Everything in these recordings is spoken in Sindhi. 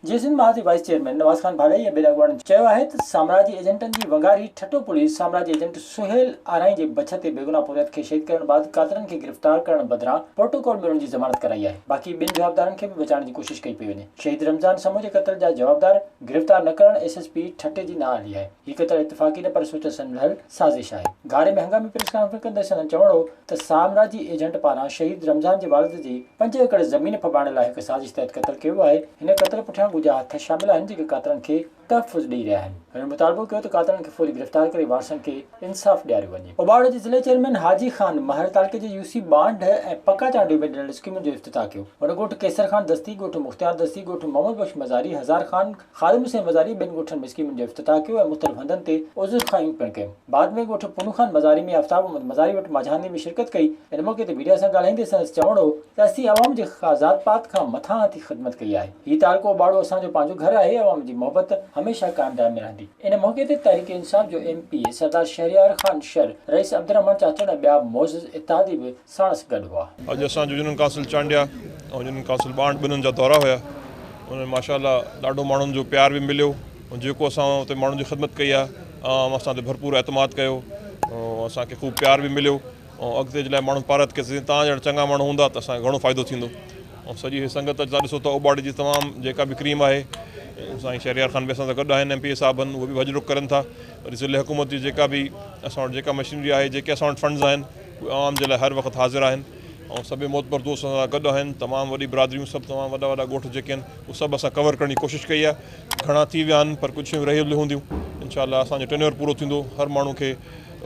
جيئي سنڌ مهاز جي وائيس چيئرمين نواز خان ڀاڏائي ۽ ٻين اڳواڻن چيو آهي ته سامراجي ايجنٽن جي ونگاري ٺٽو پوليس سامراجي ايجنٽ سهيل آرائين جي بڇ تي بيگناهه پورهيت کي شهيد ڪرڻ بعد قاتلن کي گرفتار ڪرڻ بدران پروٽوڪول ۾ ان جي ضمانت ڪرائي آهي باقي ٻين جوابدارن کي به بچائڻ جي ڪوشش ڪئي پئي وڃي شهيد رمضان سمون جي قتل جا جوابدار گرفتار نه ڪرڻ ايس ايس پي ٺٽي جي نااهلي آهي هي قتل اتفاقي نه پر سوچ سمجهل سازش آهي. گهاري ۾ هنگامي پريس ڪانفرنس ڪندي سندن چوڻ هو ته سامراجي ايجنٽ پاران شهيد رمضان جي والد جي پنج ايڪڙ زمين ڦٻائڻ لاء هڪ سازش تحت قتل ڪيو ويو آهي، هن قتل پٺيان ڳجها هٿ شامل آهن جيڪي قاتلن کي تحفظ ڏئي رهيا آهن. هنن مطالبو ڪيو ته قاتلن کي فوري گرفتار ڪري وارثن کي انصاف ڏياريو وڃي. اٻاڙ جي ضلعي چيئرمين حاجي خان مهر تعلقي جي يو سي بانڊ ۽ پڪا چانڊيو ۾ ڏنل اسڪيمن جو افتتاح ڪيو. هن ڳوٺ قيصر خان دستي، ڳوٺ مختيار دستي، ڳوٺ محمد بخش مزاري، هزار خان، خادم حسين مزاري ٻين ڳوٺن ۾ اسڪيمن جو افتتاح ڪيو ۽ مختلف هنڌن تي عذرخواهيون پڻ ڪيون. بعد ۾ ڳوٺ پونو خان مزاري ۾ آفتاب احمد مزاري وٽ ماجهاندي ۾ شرڪت ڪئي. ان موقعي تي ميڊيا سان ڳالهائيندي سندس چوڻ هو ته اسين عوام جي ذات پات کان مٿان هٿي خدمت ڪئي آهي. هي تعلقو اباڙو اسان جو پنهنجو گهر آهي، عوام جي محبت هميشه قائم دائم ۾ رهندي. ان موقعي تي تحريڪ انصاف جو M P A Sardar Shehryar Khan Shar, Rais Abdulrehman Chachar ۽ ٻيا معزز اتحادي به ساڻس گڏ هئا. اڄ اسان جو جنن قاصل چانڊيا ۽ جنن قاصل ٻانٽ ٻنن جا دورا هيا انهن ۾ ماشاء الله ڏاڍو ماڻهن جو پيار به مليو ۽ جيڪو اسان اتي ماڻهن جي خدمت ڪئي آ عوام اسان تي ڀرپور اعتماد ڪيو ۽ اسان کي خوب پيار به مليو ۽ اڳتي جي لاء ماڻهن پارت ڪيس جي تان جهڙا چڱا ماڻهو هوندا ته اسان کي گهڻو فائدو ٿيندو ۽ سڄي هي سنگت اڄ تان ڏسو ته اوٻاڙي جي تمام جيڪا به ڪريم آهي سائين شهريار خان به اسان سان گڏ آهن ايم پي اي صاحب آهن اهي به وڄ ڊڪ ڪرن ٿا وري ضلعي حڪومت جي جيڪا به اسان وٽ جيڪا مشينري آهي جيڪي اسان وٽ فنڊز آهن اهي عوام جي لاء هر وقت حاضر آهن ۽ سڀئي معتبر دوست اسان سان گڏ آهن تمام وڏي برادريون سڀ تمام وڏا وڏا ڳوٺ جيڪي آهن اهي سڀ اسان ڪور ڪرڻ جي ڪوشش ڪئي آهي گهڻا ٿي ويا آهن پر ڪجهه شيون رهيل هونديون انشاء الله اسان جو ٽينيور پورو ٿيندو هر ماڻهو کي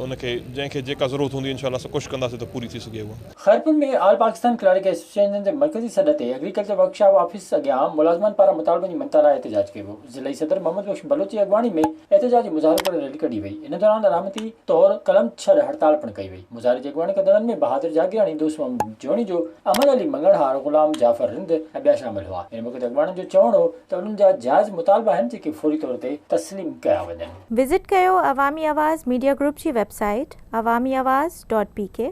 ان کي جنهن کي جيڪا ضرورت هوندي انشاء الله اسان ڪوشش ڪنداسين ته پوري ٿي سگهي اها. Khairpur ۾ all Pakistan clerk association جي مرڪزي سڏ تي ايگريڪلچر ورڪشاپ آفيس اڳيان ملازمن پاران مطالبن جي مڃتا لاء احتجاج ڪيو ويو. ضلعي صدر محمد بخش بلوچ جي اڳواڻي ۾ احتجاجي مظاهرو ڪري ريلي ڪڍي وئي، ان دوران علامتي طور قلم ڇڏ هڙتال پڻ ڪئي وئي، مظاهري جي اڳواڻي ڪندڙن ۾ بهادر جاگيراڻي، دوست محمد جوڻيجو، احمد علي مڱڻهار، غلام جعفر رند ۽ ٻيا شامل هئا، ان موقعي تي اڳواڻن جو چوڻ هو ته انهن جا جائز مطالبا آهن جيڪي فوري طور تي تسليم ڪيا وڃن. وزٽ ڪيو عوامي آواز ميڊيا گروپ جي web site Awami Awaz dot P ڪي.